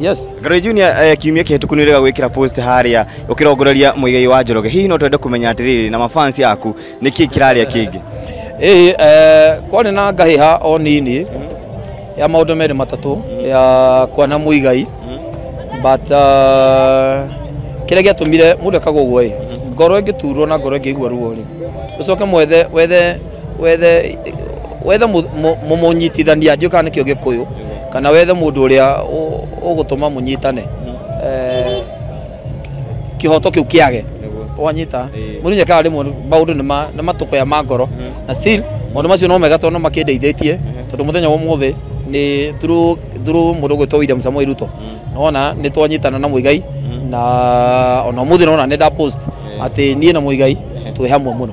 Yes. Ngoro Junior eh, kiumia kĩhĩtũku nĩ ũrega gwĩkĩra post harĩa ũkĩrongoreria mũigei wa Njoroge hihi no twende kũmenya atĩrĩrĩ na mafans yaku nĩ kĩĩ kĩrarĩa kĩngĩ Ĩĩ eh, kwarĩ na ngahĩha o nini ya maũndũ merĩ matatũ ya kwana mũigai but uh, kĩrĩa gĩatũmire mũndũ ekagwo ũguo ĩ ngoro ĩngĩturwo na ngoro ĩngĩigua ruo rĩ ũcoke mwethe wethe wethe wethe mu- mu- mu- mũnyitithania ndiũka nĩkĩo gĩkũyũ kana wethe mũndũ ũrĩa ũ- ũgũtũma mũnyitane Eh, kĩhoto kĩu kĩage wanyita Ĩĩ. mũndũ nyekaga rĩmwe maũndũ nĩ ma- nĩ matũkũya ma ngoro na still maũndũ macio no mega tondũ no makĩndeithĩtie tondũ mũthenya wa ũmũthĩ nĩ through through mũndũ ũgwĩtwo William Samuel Ruto nona nĩ twanyitana na Muigai na ona ũmũthĩ nona nĩ nda post atĩ niĩ na Muigai twĩ hamwe mũno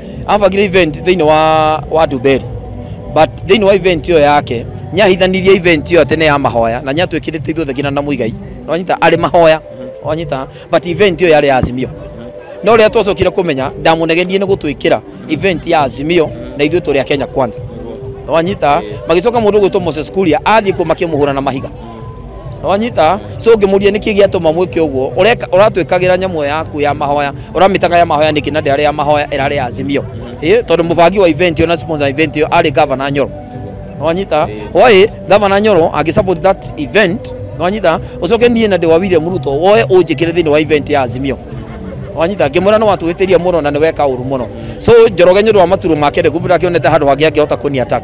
abangire event thĩinĩ wa wa Ndumberi but thĩinĩ wa event ĩyo yake nyahithanirie event ĩyo tene ya mahoya na nyatwĩkĩrĩte ithuothe nginya na mũigai wanyita arĩ mahoya wanyita but event ĩyo yarĩ ya Azimio no rĩrĩa twacokire kũmenya ndamunegerie nĩ gũtwĩkĩra event ya Azimio na ithuĩ tũrĩ a Kenya kwanza wanyita magĩcoka mũndũ gwĩtwo Moses Kuria athiĩ kũ makĩmũhũra na mahiga wanyita so ngĩmũria nĩkĩ gĩatũma mwĩke ũguo Ũreka- ũratwĩkagĩra nyamũ yaku ya mahoya ũramĩtaga ya mahoya nĩkĩ na ndĩarĩ ya mahoya ĩrarĩ ya azimio Ĩ, tondũ mũbangi wa event ĩyo na sponsor event ĩyo arĩ gavana nyoro wanyita hwaĩ gavana nyoro agĩ support that event wanyita ũcoke niĩ na ndĩ wa William Ruto woe ũnjĩkĩre thĩinĩ wa event ya azimio wanyita ngĩmwĩra nĩ watũhĩtĩria mũno na nĩ weka ũru mũno so njoroge nĩ ũndũ wa maturo make ndĩkũbĩra akĩonete handũ hangĩ angĩhota kũni attack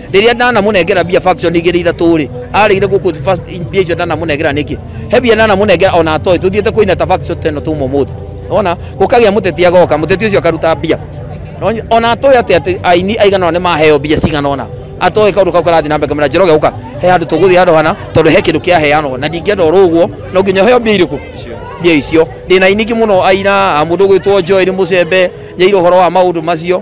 riria ndanamũnengera mbia faction igĩrĩ ithatũ rĩ arĩire gũkũ first mbia icio ndanamũnengera nĩkĩ he mbia ndanamũnengera ona atoĩ tũthiĩte kũina ta faction ta ĩno tuma ũmũthĩ ona gũkagĩa mũteti agoka mũteti ũcio akaruta mbia Ona- ona atoĩ atĩ atĩ aini aigana ona nĩ maheo mbia cigana ona atoĩ kaũndũ kau karathiĩ na mbere kamera njoroge ũka he handũ tũgũthiĩ handũ hana tondũ he kĩndũ kĩaheanwo na ndingĩenda ũrũ ũguo no nginya heo mbia irĩkũ mbia icio ndĩna iniki mũno aina a mũndũ gwĩtwo njoeri mũcembe nyairĩ ũhoro wa maũndũ macio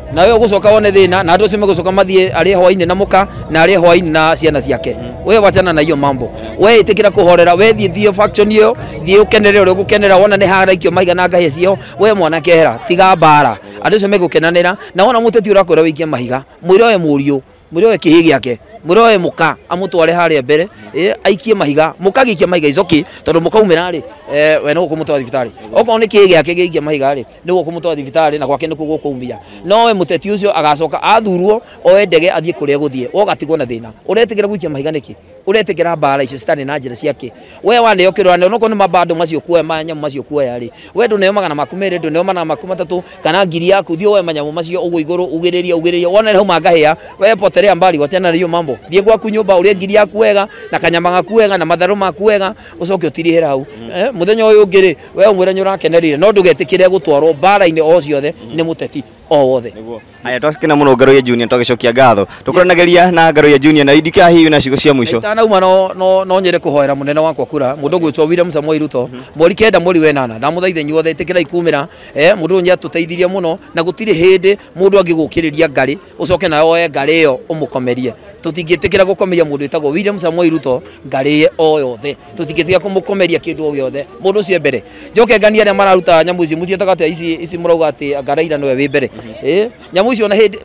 nawe ugucoka wone thina na andu acio megucoka mathie ari hwaini na muka na ari hwaini na ciana ciake we wachana na hiyo mambo we itikira kuhorera we thie thio faction iyo thie ukenere uri gukenera wona ni haraikio maigana ngahi cio we mwana kehera tiga mbara andu acio megukenanira na wona muteti urakwira wikie mahiga mwire we muriu muroe kihi giake muroe muka amutware haria mbere eh, aikie mahiga mukagikia mahiga icoki tondu mukaumira ri eh, we no kumutwara thibitari okorwo ni kihi giake giikia mahiga ri niguo kumutwara thibitari na gwake nikuo gukumia no we muteti ucio agacoka athurwo oe ndege athie kuria guthie wogatigwo na thina uretigira gwikia mahiga niki uretikira mbara icio citari na njira ciake we waneo kirwa ne noko ni mabando macio kuoya manyamu macio kuoya ri we ndu neo magana maku mere ndu neo magana maku matatu kana ngiri yaku thio we manyamu macio ugu iguru ugiriria ugiriria wona hau mangahia we poterea mbali wachana na hiyo mambo thie gwaku nyumba urie ngiri yaku wega na kanyama gaku wega na matharu maku wega ucoke utirihira hau Eh, muthenya uyu ungi ri we umwira nyurakenerire no ndugetikire gutwarwo mbara-ini o ciothe ni muteti o wothe Nĩguo. Aya twakena muno Ngaruya Junior twagicokia ngatho. Tukuranageria na Ngaruya Junior na Idika hihi na cigo cia mwisho. itanauma no no no nyende kuhoera munene wakwa kura mundu gwitwo William Samuel Ruto mweri kenda mweri wenana ndamuthaitha inyuothe itikirai kumira eh mundu nyi atuteithirie muno na gutiri hindi mundu angigukiriria ngari ucoke nayo oe ngari iyo umukomerie tutingitikira gukomeria mundu witagwo William Samuel Ruto ngari ye o yothe tutikitiga kumukomeria kindu o giothe mundu ucio mbere njoke ngania aria mararuta nyamu ici mucietaga atia ici ici murauga ati anga Raila niwe wi mbere eh nyamu icio na hindi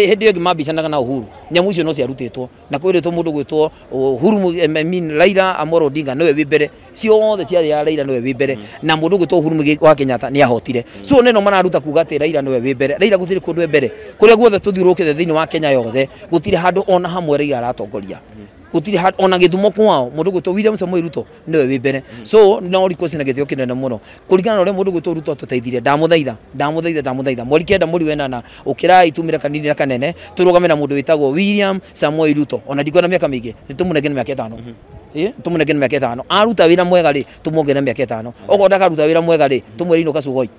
hindi yo ngimambicanaga na Uhuru nyamu icio no ciarutitwo na kwiritwo mundu gwitwo Uhuru Mu- em, I mean Raila Amolo Odinga niwe wi mbere ciothe ciari ya Raila niwe wi mbere na mundu gwitwo Uhuru Muigai wa Kenyatta ni ahotire so neno mararuta kuga ati Raila niwe wi mbere Raila gutiri kundu e mbere kuria guothe tuthiurukite thiini wa Kenya yothe gutiri handu ona hamwe Raila aratongoria gutiri ha- ona githumo kwao mundu gwitwo William Samuel Ruto niwe wi mbere so no request na githio kinene muno kuringana na uria mundu gwitwo Ruto atutaithire ndamuthaitha ndamuthaitha ndamuthaitha mweri kenda mweri wenana ukirai tumire kanini na kanene turugame na mundu witagwo William Samuel Ruto ona ndikuona miaka mingi nitumunenge ni miaka itano Eh, tumunenge ni miaka itano aruta wira mwega ri tumuonge na miaka itano okorwo ndakaruta wira mwega ri tumwire inuka sugoi